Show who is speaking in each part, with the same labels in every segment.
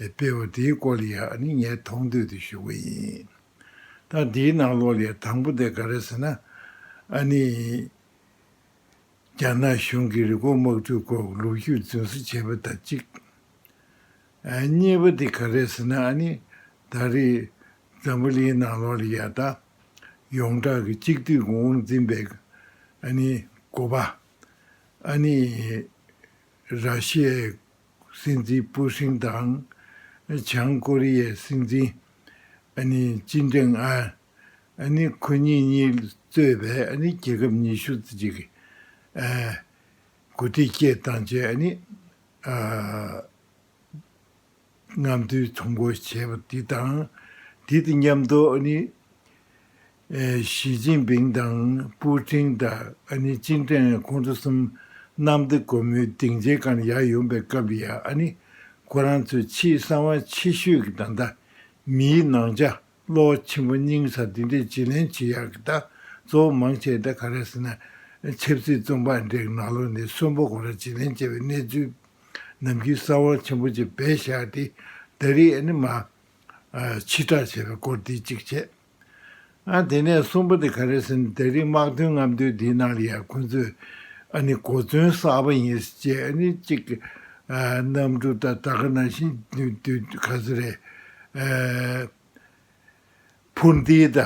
Speaker 1: སྤེལ་བ་དེའི་སྐོར་ལ་ཡང་ནི་ངས་མཐོང་ཐོས་དེ་ཞུ་གི་ཡིན། ད་འདིའི་ནང་ལོགས་ལས་དང་པོ་དེ་ག་རེད་ཟེར་ན། ཨ་ནི། རྒྱ་ནག་གཞུང་གིས་རི་སྐོར་དམག་འཁྲུག་སྐོར་ལུག་ཤུགས་རྫུན་བཟོ་བྱས་པ་དང་གཅིག། གཉིས་པ་དེ་ག་རེད་ཟེར་ན་ཨ་ནི། ད་རེས། འཛམ་བུ་གླིང་ནང་ལོགས་ལ་ཡང་ད། ཡོངས་གྲགས་ཀྱི་གཅིག་སྡུད་ཀྱི་དབང་འཛིན་པའི། ཨ་ནི། དགོས་པ། ཨ་ནི། ར་ཤི་ཡའི། སྲིད་འཛིན་པུའུ་ཧྲིན་དང། བྱང་ཀོ་རི་ཡའི་སྲིད་འཛིན། ཅིན་ཀྲེང་ཨན། ཁོ་གཉིས་གཉིས་གཙོས་པའི་རྒྱལ་ཁབ་ཉི་ཤུ་རྩེ་གཅིག་གི་འགོ་ཁྲིད་བཅས་བཏང་རྗེས། ལྔ་མདོའི་ཚོང་སྒོ་བྱས་པ་དེ་དང་དེ་དང་མཉམ་དུ། ཞི་ཅིན་ཕིང་དང་པུའུ་ཀྲིང་ད་ཨ་ནི་ཅིན་ཀྲེང་ཨན་ཁོང་ཚོ་གསུམ་གནམ་བདེ་སྒོ་མོའི་སྡིངས་ཆའི་སྒང་ཡར་ཡོང་པའི་སྐབས་ཡ་ཨ་ནི་ཁོ་རང་ཚོས་ཆེས་གསང་བ་ཆེ་ཤོས་ཀྱི་བདག་མདའ། མིའི་ནང་ཆ་གློག་ཆེན་པོ་རྙིང་སར་འདི་འདྲའི་བྱི་ལེན་བྱེད་ཡག་གི་བདག་གཙོ་བོ་མང་ཆེ་ད་ག་རེ་ཟེར་ན་ཆབ་སྲིད་རྩོམ་པ་འབྲེག་ནག་ལོ་ནས་གསོན་པོ་ཁོ་རང་བྱི་ལེན་བྱས་པའི་གནས་ཚུལ་ནམ་རྒྱུན་གསང་བ་ཆེན་པོ་ཆེ་བས་བཞག་སྟེ་ད་རེས་ཨ་ནི་མ་ཕྱི་དྲག་བྱས་པའི་སྐོར་འདི་གཅིག་བྱས། ཨ། དེ་ནས་གསུམ་པ་དེ་ག་རེད་ཟེར་ནས་ད་རིག་དམག་དོན་རྔམ་སྟོན་དེའི་ནང་ལ་ཡར་འཁོན་ཚོས་ཨ་ནི་གོ་མཚོན་གསར་པ་ཡིན་ཟེར་བྱས་ཨ་ནི་གཅིག་གི་གནམ་གྲུ་ད་ད་ག་ནང་བཞིན་དུས་ག་ཚོད་རེད་འཕུར་མདེལ་ད་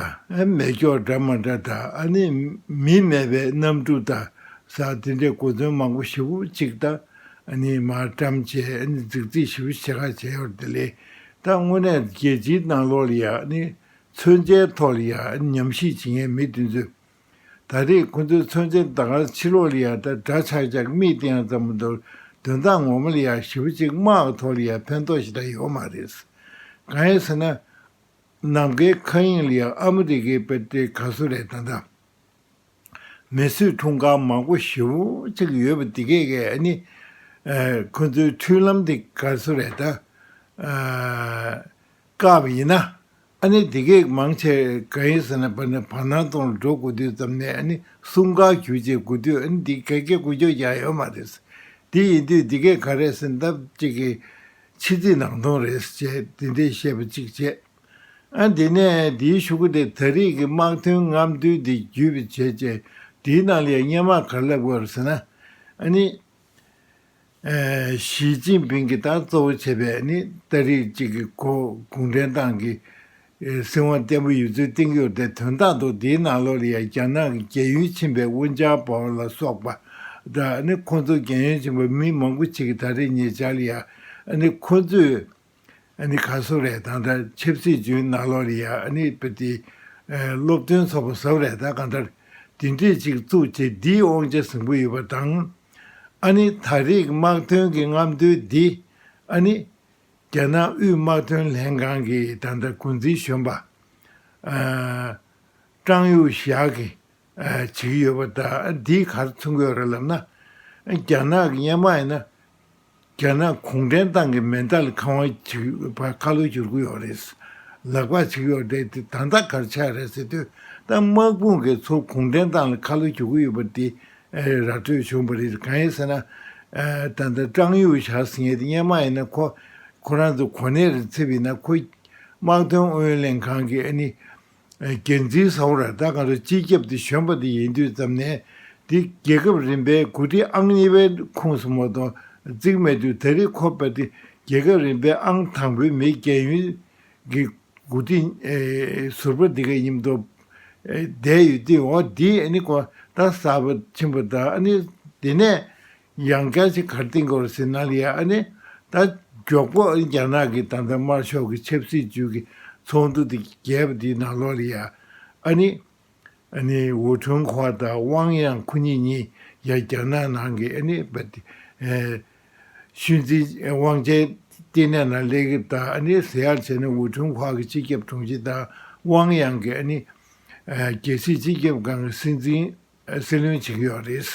Speaker 1: མེད་སྐྱོག་འདྲ་མ་འདྲ་ད་ཨ་ནི་མི་མེད་པའི་གནམ་གྲུ་ད་ཟ་དེ་འདྲའི་གོ་མཚོན་མང་པོ་ཞིབ་གཅིག་ད་ཨ་ནི་མར་བཀྲམ་བྱས་ཨ་ནི་རྫིག་རྫིག་ཞིབ་བྱེད་ག་བྱས་ཡོད་དེ་ལས་ད་དངོས་གནས་རྒྱལ་སྤྱིའི་ནང་ལོགས་ལ་ཡ་ནི་ཚོད་འཛིན་ཐོག་ལ་ཡ་ནི་ཉམས་ཞིབ་བྱེད་མཁན་མི་དེ་ཚོས། ད་རེས་ཁོ་ཚོའི་ཚོད་འཛིན་ད་གང་ཕྱི་ལོགས་ལ་ཡ་ད་འདྲ་ཆག་ཆག་གི་མིག་སྟེང་ཙམ་མི་འདུག་དོན་དག་ངོ་མ་ལ་ཡ་ཞིབ་པོ་གཅིག་སྨྲ་བ་ཐོག་ལ་ཡ་ཕན་ཐོགས་ཞིག་ད་ཡོད་མ་རེད། གང་ཡིན་ཟེར་ན། ནམ་མཁའི་མཁའ་དབྱིངས་ལ་ཡ་ཨ་མི་རི་ཀའི་དཔེ་སྟེ་ག་སུ་རེད་ད་ད། མི་གསོད་འཁྲུངས་སྐར་མང་པོ་ཞེ་བོ་གཅིག་ཡོད་པ་འདི་གས་གས་ནི། ཁོ་ཚོའི་མཐུན་ལམ་དེ་ག་སུ་རེད་ད། སྐབས་ཡིན་ན། འདི་གས་མང་ཆེ་ག་ཡིན་ཟེར་ན་བར་ནས་བར་སྣང་སྟོང་ལ་འགྲོ་དགོས་དུས་ཙམ་ནས་གསུམ་ག་གྱུར་རྗེས་དགོས་དུས་འདི་གས་སྐད་གོ་རྒྱུ་ཡང་ཡོད་མ་རེད། དེ་ཡིན་དུས་འདི་གས་ག་རེ་ཟིན་སྟབས་ཅིག་གིས་ཕྱི་རྫིག་ནང་སྟོང་རེད་ཟེར་ཅེས་འདི་འདྲའི་བཤད་པ་གཅིག་བྱས། ཨ། དེ་ནས་དེའི་ཤུགས་ཀྱིས་དེ་ད་རེས་ཀྱི་དམག་དོན་རྔམ་སྟོན་དེ་བརྒྱུད་པའི་བྱས་རྗེས་དེའི་ནང་ལས་སྙན་དམག་ག་ལ་དགོས་ཟེར་ན་ནི། ཞིས་ཅིན་ཕིང་གིས་ད་གཙོ་བོ་བྱས་པའི་ནི་ད་རེས་གཅིག་གི་གོ་གུང་ཁྲན་ཏང་གི་སྲིད་དབང་བརྟན་པོ་ཡོད་ཚུལ་བསྟན་རྒྱུ་རེད་དེ་དོན་དག་ཏུ་དེའི་ནང་ལོ་ལེ་ཡ་རྒྱ་ནག་གི་རྒྱལ་ཡོན་ཕྱིན་པའི་ཝུན་ཅཱ་པའོ་ལ་སོགས་པ་དང་ནི་ཁོང་ཚོ་རྒྱལ་ཡོན་ཕྱིན་པ་མི་མང་པོ་ཞིག་གིས་ད་རེས་ཉེ་ཆར་ལ་ཡ་ནི་ཁོང་ཚོས་ཨ་ནི་ག་ཟོ་རེད་ད་འདྲ་ཆབ་སྲིད་ཇུས་ནག་ལོག་རེད་ཡ་ཨ་ནི་པི་ཏི། སློབ་སྟོན་ཚོགས་པ་ཟབ་རེད་ད་ག་འདྲ། དེ་འདྲས་ཅིག་བཙུགས་ཆེ་འདིས་དབང་ཆ་ཟིང་པོ་ཡོད་པ་དང། ཨ་ནི་ད་རེག་དམག་དོན་གི་རྔམ་སྟོན་འདི། ཨ་ནི། རྒྱ་ནག་དབུས་དམག་དོན་ལྷན་ཁང་གི་ད་འདྲ་འགོ་འཛིན་གཞོན་པ། ཨ། ཀྲང་ཡུའུ་ཞག་གི་བྱེད་ཀྱི་ཡོད་པ་དང་འདིའི་ཁར་མཚོན་དགོས་རེད་ལབ་ན། རྒྱ་ནག་གི་གཉེན་མ་ཡིན་ན། རྒྱ་ནག་གུང་ཁྲན་ཏང་གི་མེ་མདའ་ལ་ཁང་བ་བྱེད་པར་ཁ་ལོ་བསྒྱུར་གི་ཡོད་རེད། ལག་པ་བྱེད་ཀྱི་ཡོད་རེད་དེ་ད་ལྟ་གར་ཆགས་རེད་ཟེར་དུས་ད་དམག་དཔུང་གིས་ཚོ་གུང་ཁྲན་ཏང་ལ་ཁ་ལོ་བྱེད་གི་ཡོད་པ་དེ་ར་སྤྲོད་བྱུང་བ་རེད་གང་ཡིན་ཟེར་ན། ད་ལྟ་ཀྲང་ཡུའུ་ཞཱ་ཟེར་མཁན་དེ་གཉེན་མ་ཡིན་ན་ཁོ་ཁོ་རང་ཚོ་གོ་གནས་རེ་འཚིབ་ཡིན་ན་ཁོ་དམག་དོན་ཨུ་ཡོན་ལྷན་ཁང་གིས་ཨ་ནི། རྒྱལ་མཚན་ཟ་བ་ར་ད་ག་ར་སྤྱི་ཁྱབ་དུ་བྱོན་པ་དེ་ཡིན་དུས་ཙམ་ནས་དེ་རྒྱལ་ཁབ་རིམ་པའི་གོ་སྒྲིག་ཨང་གཉིས་པའི་ཁོངས་སུ་མ་དོ་བརྩིགས་མེད་དུས་ད་རེས་ཁོ་པ་དེ་རྒྱལ་ཁབ་རིམ་པའི་ཨང་དང་པོའི་མི་རྒྱལ་ཡོན་གྱི་གོ་སྒྲིག་ཟུར་པ་དེ་ག་ཡིན་མདོ་བསྡད་ཡོད་དུས་འོ་འདི་ནི་གོ་ད་གསར་པ་ཕྱིན་པ་ད་ནི་དེ་ནས་ཡང་བསྐྱར་ཅི་གར་བསྟེན་སྐོར་ཟེར་ན་ལི་ཨ་ནི་ད་མགྱོགས་པོ་རྒྱ་ནག་གི་ད་ལྟ་དམར་ཤོག་གི་ཆབ་སྲིད་ཅུས་ཀྱི་ཚོགས་འདུ་དེ་རྒྱས་པ་དེའི་ནང་ལོ་ལི་ཨ་ནི་ཨ་ནི་ཝུ་ཁྲུན་ཧོ་དང་ཝང་དབྱང་ཁོ་གཉིས་གཉིས་ཀྱང་རྒྱ་ནག་ནང་གི་ཨ་ནི་པ་ཏི་ཤུལ་འཛིན་དབང་ཆའི་ལྟེ་གནས་ནང་ལས་ཀྱི་ད་ཨ་ནི་ཟེར་ཡག་བྱས་ནས་ཝུ་ཁྲུན་ཧོ་གི་སྤྱི་ཁྱབ་དྲུང་ཆེ་དང་ཝང་དབྱང་གི་ཨ་ནི་རྒྱལ་སྲིད་སྤྱི་ཁྱབ་ཁང་གི་སྲིད་འཛིན་སྲིད་བློན་བྱེད་ཀྱི་ཡོད་རེད།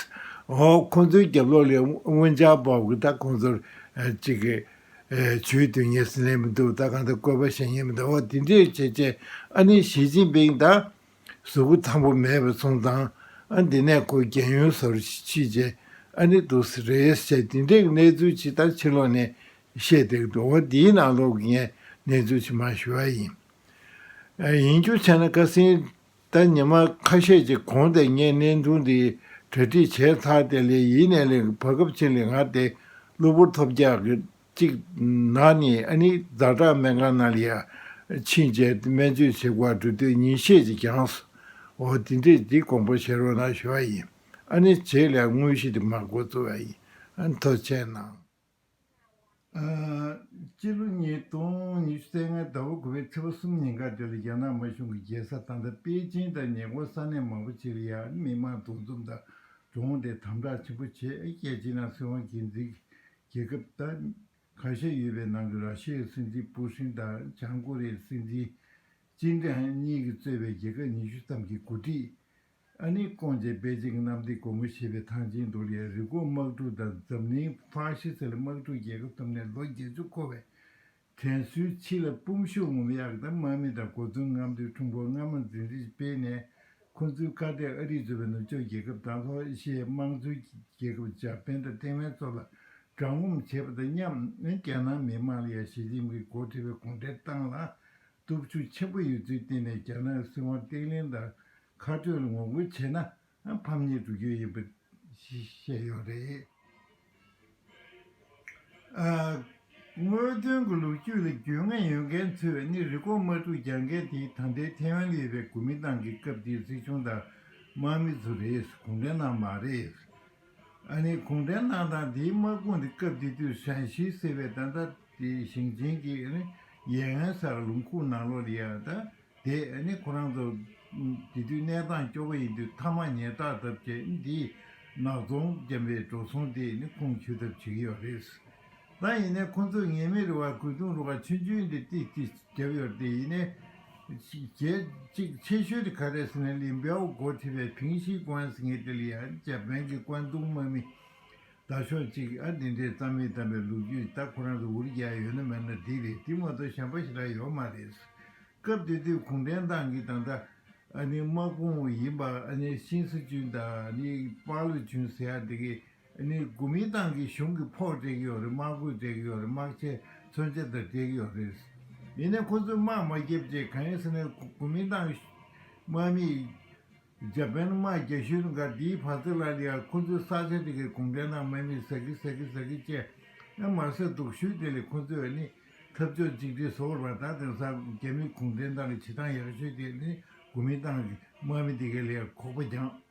Speaker 1: འོ་ཁོང་ཚོའི་རྒྱབ་ལོགས་ལས་དབོན་ཇག་བབ་གི་ད་ཁོང་ཚོར་ཅིག་གི་ཇུས་དོན་གཉེར་ཟིན་ལེ་མི་འདུག་ད་གང་ལྟར་བཀོད་པ་བཤད་ཉན་མི་འདུག་འོ་དེ་འདྲས་བྱས་བྱས་ཨ་ནི་ཞི་ཅིན་པིང་ད་གཟུགས་པོ་ཐང་པོ་མེད་པའི་སོང་ཙང་ཨ་འདི་ནས་ཁོ་རྒྱལ་ཡོན་བཟོར་ཕྱིས་བྱས་ཨ་ནི་འདུག་ཟེ་རེད་བྱས་དེ་འདྲས་གི་གནས་ཚུལ་ཅིག་ད་ཕྱི་ལོགས་ནས་བཤད་འདུག་འདུག་འོ་དེའི་ནང་ལོགས་ཀྱི་ངས་གནས་ཚུལ་ཅིག་མ་ཞུ་བ་ཡིན། ཡིན་རྒྱུ་ཆ་ན་ཁ་སིན་ད་ཉི་མ་ཁ་ཤས་ཀྱི་གོང་དེ་སྙེད་གནས་འདུག་འདི་གྲ་སྒྲིག་བྱས་ཚར་ཏེ་ལས་ཡིན་ནས་ལས་ཀྱི་བར་སྐབས་ཕྱིན་ལས་སྔར་དེ་གློ་བུར་ཐོབ་རྒྱག་གི་ཅིག་ན་ནི་ཨ་ནི་རྫ་བྲག་སྨན་ཁང་ན་ལ་ཡར་ཕྱིན་རྗེས་སྨན་བཅོས་བྱེད་སྒོ་འགྲོ་དུས་ཉིན་ཤས་ཀྱི་གྱང་ས་འོག་འདི་འདྲས་འདི་དགོངས་པ་བཞེས་རོགས་གནང་ཞུ་བ་ཡིན་ཨ་ནི་བྱེད་ལས་དངོས་གཞི་དེ་མ་གོ་ཚུལ་བ་ཡིན་མཐོ་ཆེན་གནང། སྤྱི་ལོ་ཉིས་སྟོང་ཉི་ཤུ་ཚེས་ལྔའི་ཟླ་བ་དགུ་བའི་ཚེས་པ་གསུམ་ཉིན་ཁ་བྲལ་རྒྱ་ནག་དམར་གཞུང་གི་རྒྱལ་ས་ཐང་ཐ་པེ་ཅིན་དང་ཉེ་འཁོར་ས་གནས་མང་པོ་ཆེ་རུ་ཡང་མི་མང་འདུ་འཛོམས་དང་གྲོངས་ཏེ་དམ་བསྒྲགས་ཆེན་པོ་བྱས་རྒྱལ་ཕྱི་ནང་སྲིད་དབང་སྒེར་འཛིན་གྱི་རྒྱལ་ཁབ་དང། ཁ་ཤས་ཡོད་པའི་ནང་གི་ར་ཤི་ཡའི་སྲིད་འཛིན་པུ་ཧྲིན་དང་བྱང་ཀོ་རི་ཡའི་སྲིད་འཛིན་ཅིན་ཀྲེང་གཉིས་ཀྱིས་གཙོས་པའི་རྒྱལ་ཁབ་ཉི་ཤུ་ཙམ་གྱིས་འགོ་ཁྲིད་ཨ་ནེ་ཀོང་བཅས་དཔེ་ཆའི་གནམ་བདེ་སྒོ་མོ་ཕྱེས་པའི་ཐང་ཆེན་མདོ་ལའི་རི་སྐོར་དམག་འཁྲུག་དང་འཛམ་གླིང་ཧྥ་ཤི་སི་ལ་དམག་འཁྲུག་རྒྱལ་ཁབ་ཐོབ་ནས་ལོ་བརྒྱད་ཅུ་འཁོར་བའི་དྲན་གསོའི་ཕྱི་ལ་སྤུངས་ཤོག་ངོམ་གཡག་དང་དམག་མི་དང་གོ་མཚོན་རྔམ་སྟོན་འཁྲུངས་སྐོར་སྔ་མ་འཛིན་རིས་སྤེལ་ནས་ཁོ་ཚོའི་ཁ་གཏད་ཨ་རིས་གཙོས་པའི་ནུབ་ཕྱོགས་རྒྱལ་ཁབ་དང་ལྷོ་ཨེ་ཤི་ཡའི་དམངས་གཙོའི་རྒྱལ་ཁབ་འཇར་པན་དང་ཐེ་ཝན་སོགས་ལ་དྲག་ངོམ་བྱས་པ་དང་མཉམ་རྒྱ་ནག་མི་དམངས་ལ་ཡང་ཞི་ཅིན་ཕིང་འགོ་ཁྲིད་པའི་གུང་ཁྲན་ཏང་ལ་སྟོབས་ཤུགས་ཆེན་པོ་ཡོད་ཚུལ་བསྟན་ནས་རྒྱ་ནག་སྲིད་དབང་བརྟན་བརླིང་དང་ཁ་བྲལ་ངོ་རྒོལ་བྱས་ན་ཕམ་ཉེས་འགྲོ་རྒྱུ་ཡིན་པ་བཤད་ཡོད་རེད། དངོས་དོན་གྱི་ལོ་རྒྱུས་ལ་རྒྱུས་མངའ་ཡོད་མཁན་ཚོས་ནི་རི་ཀོང་དམག་འཁྲུག་རྒྱག་མཁན་དེ་ད་ལྟའི་ཐེ་ཝན་ལས་རའི་གོ་མིན་ཏང་གི་སྐབས་དེའི་སྲིད་གཞུང་དང་དམག་མི་ཚོ་རེད་གུང་ཁྲན་ནང་མ་རེད། ཨ་ནི་གུང་ཁྲན་ཏང་དང་དེའི་དམག་དཔུང་དེ་སྐབས་དེ་དུས་ཧྲན་ཞི་ཟེར་བའི་ད་ལྟ་དེ་ཞིང་ཆེན་གྱི་ཨ་ནི་ཡན་ཨན་སར་ལུང་ཁུག་ནང་ལོགས་ལི་ཡ་ད་དེ་ཨ་ནི་ཁོ་རང་ཚོ་དེ་དུས་གནས་སྟངས་སྐྱོ་བོ་ཡིན་དུས་མཐའ་མ་ཉལ་ཐག་ཐབས་བྱས་ཨ་ནི་དེའི་ནག་ཚོང་རྒན་པའི་འགྲོ་སོང་དེ་ཨ་ནི་ཁུངས་འཁྱོལ་ཐབས་བྱེད་ཀྱི་ཡོད་རེད། ད་ཡིན་ནའི་ཁོང་ཚོས་ངེས་མེད་རེ་བ་གུས་གཏོང་རུ་བ་ཆུན་ཆུན་དེ་ཏིག་ཏིག་བརྒྱབ་ཡོར་དེ་ཡིན་ནའི། གྱད་གཅིག་ཆེ་ཤོས་དེ་ག་རེ་སི་ནའི་ལིན་པའོ་སྒོ་ཐི་བའི་ཕིང་ཤིས་ཀོན་སི་ངེ་ཏི་ལི་ཡ་ཇཱ་པན་གི་ཀོན་ཏུང་དམག་མི་ད་ཤོག་ཅིག་ཨ་དེ་འདྲའི་རྩ་མི་དམ་པའི་ལུག་རྒྱུད་ད་ཁོ་རང་ཚོ་འུར་རྒྱག་ཡོད་ན་མེད་ན་དེ་རེད་དེ་མ་གཏོགས་གཞན་པ་ཞིག་རག་ཡོག་མ་རེད། སྐབས་དེ་དུས་གུང་ཁྲན་ཏང་གིས་ད་ལྟ་ཨ་ནི་དམག་དཔུང་ཡིན་པ་ཨ་ནི་ཤིན་སི་ཅུན་ད་ཨ་ནི་པའ་ལུ་ཅུན་ཟེར་ཡག་དེ་གི་ནི་གོ་མིན་ཏང་གི་གཞུང་གི་ཕོགས་སྤྲད་ཀྱི་ཡོད་རེད་དམག་གུས་སྤྲད་ཀྱི་ཡོད་རེད་དམག་ཆས་མཚོན་ཆ་དག་སྤྲད་ཀྱི་ཡོད་རེད། ཡིན་ནའི་ཁོ་ཚོས་དམག་མ་བརྒྱབ་རྗེས་གང་ཡིན་ཟེར་ན་གོ་མིན་ཏང་དམག་མིས་རྒྱ་བལ་དམག་རྒྱ་གཞུ་འགའ་འདིའི་བར་རྩེ་ལ་ལས་ཡག་ཁོ་ཚོས་ས་ཆ་དེ་གའི་གུང་ཁྲན་ཏང་དམག་མིས་ཟ་གི་ཟ་གི་ཟ་གི་ཅེས་ཨ་མར་ཟེར་འདུག་ཤུལ་དེ་ལས་ཁོ་ཚོས་ནི་འཐབ་ཕྱོགས་གཅིག་སྒྲིལ་བཟོ་དགོས་པ་དང་དེང་སང་རྒྱ་མིས་གུང་ཁྲན་ཏང་གི་བྱེད་སྟངས་ཡག་ཤོས་དེ་ནི་གོ་མིན་ཏང་དམག་མིས་དེ་གའི་ལས་ཡག་ཁོག་པ་རྒྱང།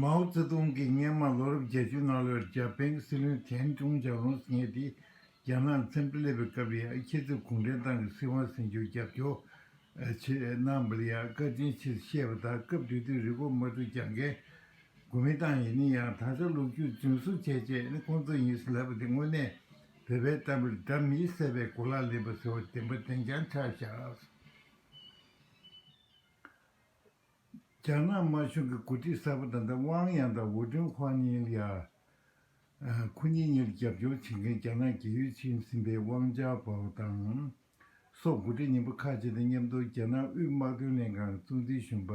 Speaker 1: མའོ་ཙེ་ཏུང་གིས་སྙེ་མ་ལོ་རབས་བརྒྱད་ཅུའི་གནའ་ལོར་རྒྱ་དཔེ་སྲིད་བློན་ཐན་ཀྲུང་ཇག་རུང་སྲིད་གཉེར་དེས་རྒྱ་ནག་མཚན་དཔེ་སླེབས་པའི་སྐབས་ཡ་ཁྱི་ཚོས་གུང་ཁྲན་ཏང་གི་སྲིད་དབང་སྲིད་འབྱོར་རྒྱབ་སྐྱོར་བྱེད་གནང་བ་ལ་ཡ་བཀའ་དྲིན་ཆེ་ཞེས་བཤད་པ་ལྟར་སྐབས་དུས་དུས་རི་སྒོ་མ་དྲུག་རྒྱང་རྒལ་དགོས་མི་བཏང་ཡིན་ན་ཡང་ད་ཆ་ལུག་ཁྱུ་རྫུན་བཟོ་བྱས་རྗེས་ནི་ཁོང་ཚོ་ཡིན་ཟེར་ལབ་པ་དེ་དངོས་གནས་བོད་པའི་གཏམ་རི་སྒྲ་མི་གསལ་བའི་གོ་ལ་ལེན་པ་ཟེར་བ་བདེན་པ་བདེན་རྐྱང་ཆགས་བཞག། རྒྱ་ནག་དམར་གཞུང་གི་འགོ་ཁྲིད་གསར་པ་དམ་པའི་དབང་དབྱང་དང་ཝུ་ཀྲུང་ཧྥ་ཉིལ་ཡ། ཁུ་ཉིན་གཉིས་ལ་རྒྱབ་སྐྱོར་བྱེད་མཁན་རྒྱ་ནག་གི་ཡུལ་ཕྱིན་ཟིན་པའི་ཝང་ཅའོ་པའོ་དང། སོགས་འགོ་ཁྲིད་རྙིང་པ་ཁག་ཅིག་དང་མཉམ་དུ་རྒྱ་ནག་དབུས་དམག་དོན་ལྷན་ཁང་གི་གཙོ་འཛིན་གཞོན་པ་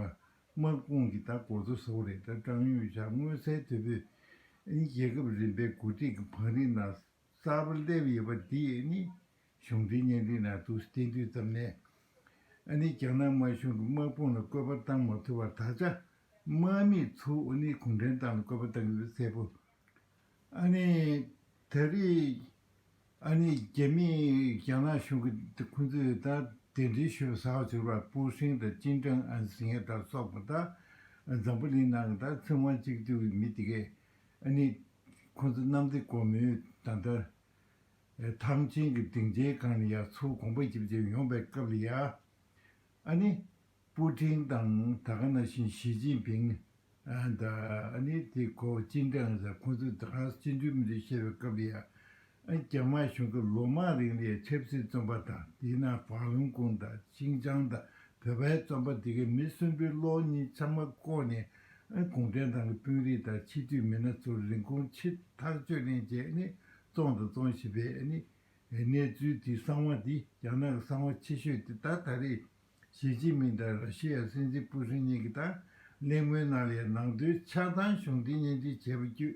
Speaker 1: དམག་དཔུང་གི་ལྟ་སྐོར་དུ་སོག་རིགས་དང་ཀྲང་ཡུས་ཞཱ་མངོན་གསལ་དོད་པོས། རྒྱལ་ཁབ་རིམ་པའི་འགོ་ཁྲིད་ཀྱི་བང་རིམ་ནང་གསར་པ་སླེབས་ཡོད་པ་འདིས་ནི་གཞུང་འབྲེལ་བརྙན་འཕྲིན་ནང་དུ་སྟེ་དུས་ཙམ་ནས་ནི་རྒྱ་ནག་དམར་གཞུང་གི་དམག་དཔུང་ལ་བཀོད་པ་བཏང་མ་ཐུབ་པར་ད་ཆ་དམག་མི་ཚོ་ནི་གུང་ཁྲན་ཏང་ལ་བཀོད་པ་བཏང་ཡོད་པ་གསལ་པོ་ནི་ད་རེས་ནི་རྒྱ་མི་རྒྱ་ནག་གཞུང་གི་ཁོང་ཚོས་ད་གདན་འདྲེན་ཞུས་པ་ཟ་བ་ཟུར་བ་པུའུ་ཧྲེང་དང་ཅིན་ཀྲང་ཨན་ཟིང་ཧེ་དང་སོགས་པ་ད་འཛམ་བུ་གླིང་ནང་གི་ད་ཚིག་དབང་གཅིག་སྡུད་མི་དེ་གས་ཨ་ནི། ཁོ་ཚོ་གནམ་བདེ་སྒོ་མོའི་ཟླ་ཟླར། ཐང་ཆེན་གྱི་སྡིངས་ཆའི་སྒང་ནས་ཡར་འཚུབ་གོང་འཕར་ཅིག་བྱས་ཡོང་པའི་སྐབས་ལ་ཡ། ཨ་ནི། པུའུ་ཀྲིང་དང་ད་ག་ན་བཞིན་ཞི་ཅིན་ཕིང། ད་ཨ་ནི། དེ་ཁོ་ཅིན་ཀྲང་ཟེར་ཁོ་ཚོས་ད་ག་ནས་སྤྱི་འཐུས་མི་འདུག་བཤད་པའི་སྐབས་ལ་ཡ། རྒྱ་དམར་གཞུང་གིས་ལོ་མང་རིང་ལས་ཆབ་སྲིད་བཙོན་པ་དང་དེའི་ནང་ཧྥ་ལུང་ཀོང་དང་ཤིང་ཅང་དང་བོད་པའི་བཙོན་པ་དེ་གའི་མི་གསོན་པོའི་གློག་བརྙན་ཚང་མ་བཀོག་ནས་གུང་ཁྲན་ཏང་གི་དཔོན་རིགས་དང་ཕྱི་སྡོད་མི་སྣ་ཚོར་རིན་གོང་ཕྱིར་ཐག་གཅོད་ལེན་བྱས་ནས་བཙོང་དང་བཙོང་བཞིན་པས་གནས་ཚུལ་དེའི་གསང་བ་དེ་རྒྱ་ནག་གི་གསང་བ་ཆེ་ཤོས་དེ་དག་ད་རེས་ཞི་ཅིན་མིང་དང་ར་ཤི་ཡ་སྲིད་འཛིན་པུ་ཧྲིན་གཉིས་ཀྱིས་དང་ལེན་ངོས་གནང་ལས་ནང་དོན་ཆགས་སྡང་གཞུང་འབྲེལ་སྙན་སྒྲོན་བྱས་པ་བརྒྱུད་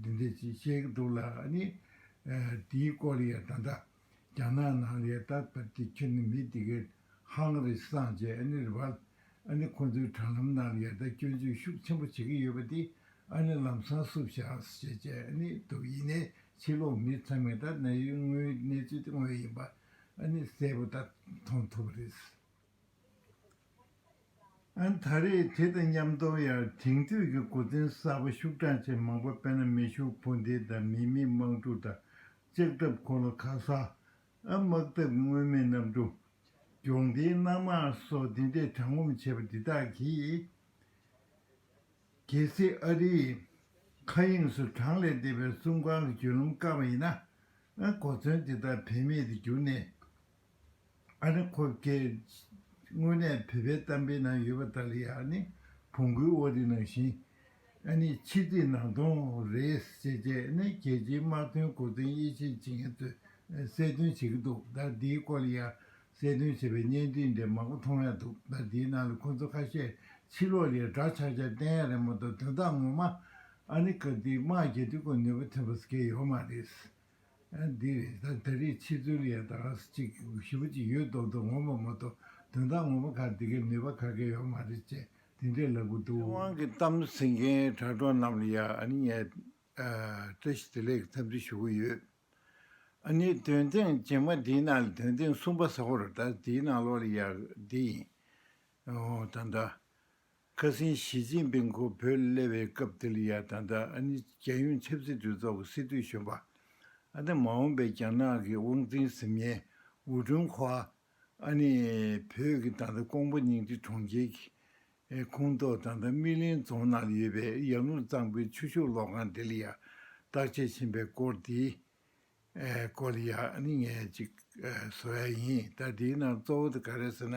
Speaker 1: འདི་འདྲའི་ཅི་བྱེད་སྒྲུབ་ལ་ནི། དེའི་སྐོར་ཡང་ད་ལྟ་རྒྱ་ནག་ནང་ལས་ལྟ་བར་དེ་ཁྱོད་ནི་མི་དེ་གའི་ཧང་རི་སངས་ཅེས་ཨ་ནེ་རི་བལ་ཨ་ནེ་ཁོང་ཚོའི་དྲ་ལམ་ནང་ལས་ལྟ་སྐྱོན་བརྗོད་ཤུགས་ཆེན་པོ་བྱེད་ཀྱི་ཡོད་པ་དེ་ཨ་ནེ་ལམ་སང་བསུབ་བཞག་ཞེས་བྱས་ནི་འདུག་ཡིན་ནའི་ཕྱི་ལོག་མི་ཚང་མས་ད་གནས་ཡུལ་དངོས་གནས་ཚུལ་དངོས་ཡིན་པ་ཨ་ནེ་གསལ་པོ་ད་མཐོང་ཐུབ་པ་རེད། ད་རེས་དེ་དང་མཉམ་དོ་ཡར་དེང་དུས་ཀྱི་འགོ་འཛིན་གསར་པ་ཤུགས་དྲག་ཅན་མང་པོ་དཔལ་ན་མེ་ཤུགས་འཕོ་འདེད་དང་མི་མེད་དམག་འཁྲུག་དང་ལྕགས་ཐབ་གོ་ལ་ཁ་ས། དམག་འཐབ་དངོས་མེད་གནམ་གྲུ། སྒྱོགས་མདེལ་གནམ་དམག་སོགས་འདི་འདྲས་དྲང་ངོམ་བྱས་པ་འདི་དག་གིས། གལ་སྲིད་ཨ་རིའི། མཁའ་དབྱིངས་སུ་གྲངས་ལས་འདས་པའི་གསུམ་རྐང་གི་བརྒྱུད་ལམ་བཀག་པ་ཡིན་ན། གོ་མཚོན་འདི་དག་བེད་མེད་དུ་གྱུར་ནས། ཨ་ནི་ཁོ་སྐད། དངོས་གནས་བོད་པའི་གཏམ་དཔེ་ན་ཡོད་པ་དག་ལ་ཡང་ཨ་ནི་བོང་གུའི་དབོ་དེ་ནང་བཞིན། ཨ་ནི་ཕྱི་དེ་ནང་སྟོང་རེད་ཟེར་ཅེས་ཨ་ནི་རྒྱལ་སྤྱིའི་དམག་དོན་མགོ་འཛིན་དབྱེ་འབྱེད་བྱེད་མཁན་ཚོས་གསལ་སྟོན་བྱེད་ཀྱི་འདུག་ཟླ་འདིའི་སྐོར་ལ་ཡང་གསལ་སྟོན་བྱེད་པའི་བརྙན་འཕྲིན་འདྲེ་མང་པོ་མཐོང་ཡ་འདུག་ཟླ་འདིའི་ནང་ལ་ཁོ་ཚོ་ཁ་ཤས་ཕྱི་ལོག་ལས་དྲག་ཆག་ཆག་བསྟན་ཡ་རེད་མོ་ད་དོན་དག་ངོ་མ་ཨ་ནི་སྐབས་དེའི་དམག་རྒྱལ་དུས་སྐོར་ནུས་པ་ཐོན་པ་ཟེར་མཁན་ཡོད་མ་རེད། འདིར་ད་རེས་ཕྱི་ཚུལ་ཡང་དག་རེ་གཅིག་གི་གཞི་བུ་གཅིག་ཡོད་མདོག་མདོག་ངོ་མ་མ་གཏོགས་དོན་དག་ངོ་མ་གང་དེ་གའི་ནུས་པ་ག་གེ་ཡོད་མ་རེད་ཅེས་དེ་འདྲའི་ལབ་གི་འདུག། དབང་གི་གཏམ་ཟེར་མཁན་དྲ་གྲོགས་རྣམས་ལ་ཡང་ཨ་ནི་ངས་བཀྲ་ཤིས་བདེ་ལེགས་འཚམས་འདྲི་ཞུ་གི་ཡོད། ཨ་ནི་དོན་ཐེངས་རྗེས་མ་འདིའི་ནང་ལ་དོན་ཐེངས་གསུམ་པ་ཟ་ཧོར་ཟླ་འདིའི་ནང་ལོགས་ལ་ཡག་འདི་ཡིན། ད་འདྲ། ཁ་སེང་ཞི་ཅིན་ཕིང་ཁོ་བོས་སླེབས་པའི་སྐབས་དེ་ལ་ཡང་ད་ལྟ་ཨ་ནི་རྒྱལ་ཡོངས་ཆབ་སྲིད་གྲོས་ཚོགས་ཀྱི་སྲིད་དོན་གཞོན་པ། ཨ་ནི་མ་འོངས་པའི་རྒྱ་ནག་གི་དབང་འཛིན་གཟིམ་ཡན་ཝུའུ་ཀྲུང་ཧྭ། ཨ་ནི་བོད་ཀྱི་ད་ལྟ་ཀོང་པོ་ཉིང་ཁྲི་གྲོང་ཁྱེར་གྱི་ཁོངས་གཏོགས་ད་ལྟ་སྨི་ལིང་རྫོང་ནང་ཡོད་པའི་ཡར་ཀླུང་གཙང་པོའི་ཆུ་ཤུགས་གློག་ཁང་དེ་ལ་ཡང་བརྟག་དཔྱད་བྱིན་པའི་སྐོར་དེ་ཀོ་ལི་ཡ་ནི་ངས་གཅིག་བཟོ་ཡ་ཡིན་ད་དེའི་ནང་གཙོ་བོ་དེ་ག་རེད་ཟེར་ན་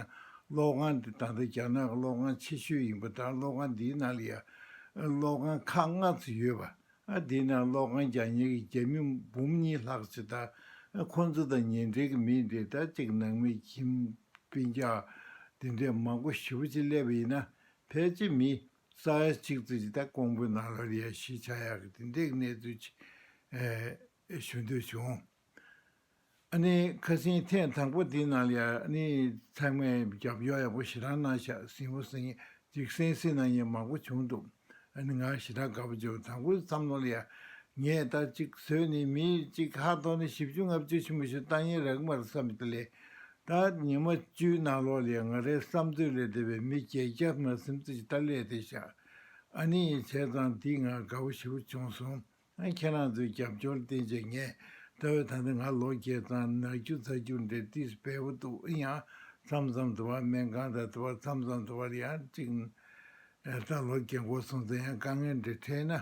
Speaker 1: གློག་ཁང་དེ་ད་ལྟ་རྒྱ་ནག་གི་གློག་ཁང་ཆེ་ཤོས་ཡིན་པ་དང་གློག་ཁང་དེའི་ནང་ལ་ཡ་གློག་ཁང་ཁག་ལྔ་ཚོ་ཡོད་པ་ཨ་དེའི་ནང་གློག་ཁང་བརྒྱ་ཉེར་གི་རྒྱ་མི་འབུམ་གཉིས་ལྷག་ཆེ་ད་ཁོང་ཚོ་དང་ཉེ་འབྲེལ་གི་མི་འདྲེ་ད་ཅིག་ནང་མི་ཁྱིམ་དཔེ་འཇགས་དེ་འདྲས་མང་པོ་ཞི་བོ་ཆེ་སླེབས་པ་ཡིན་ན་ཕལ་ཆེར་མི། རྩ་བའི་གཅིག་བརྩེགས་ཀྱི་སྟེང་ཀོང་པོའི་ནང་རོལ་ཡས་ཞེས་བྱ་ཡག་གི་དེ་འདྲའི་གནས་ཚུལ་ཅིག་ཞུ་འདོད་བྱུང། ཨ་ནི་ཁ་སེང་ཐེངས་དང་པོ་དེའི་ནང་ལ་ཡར་ཨ་ནི་ཚང་མས་རྒྱབ་ཡོག་ཡག་པོ་ཞེ་དྲག་གནང་ཤག་སེང་བོ་སེང་གཅིག་སེང་སེ་གནང་མཁན་མང་པོ་བྱུང་འདུག་ཨ་ནི་ང་ཞེ་དྲག་དགའ་པོ་བྱུང་དང་པོའི་མཚམས་ལོ་ལ་ཡར་ངས་ལྟ་གཅིག་བཟོས་ནས་མི་གཅིག་ཧ་ཐོག་ནས་བཞི་བཅུ་ལྔ་བཅུ་ཕྱི་མ་ཞུ་ལྟ་ཡིན་རག་མ་རེད་བསམ་ཡོད་ལས་ད་ཉི་མ་བཅུའི་ནང་ལོག་ལས་ང་རའི་བསམ་ཚུལ་ལས་འདས་པའི་མི་བརྒྱད་བརྒྱ་ང་སེམས་ཚེ་ཇི་ལྟར་ལས་དེ་བཞག་ཨ་ནི་ཡིན་བྱས་ཙང་འདིས་ང་དགའ་བོ་ཞེ་བོ་བྱུང་སོང་ཁྱེད་རང་ཚོའི་རྒྱབ་སྐྱོར་བརྟེན་བྱས་ངས་ད་འོད་ད་ནི་ང་ལོག་བརྒྱད་ཙང་ནག་ཆུ་རྫ་ཆུ་འདྲེ་ཏིས་བལ་བོ་འདུག་ཨི་ཡང་མཚམས་མཚམས་དུ་བར་སྨན་ཁང་དང་དུ་བར་མཚམས་མཚམས་དུ་བར་ཡང་གཅིག་ད་ལོག་བརྒྱད་འགོ་སོང་ཙང་ཡང་དཀའ་ངལ་འདྲེ་འཕྲད་ན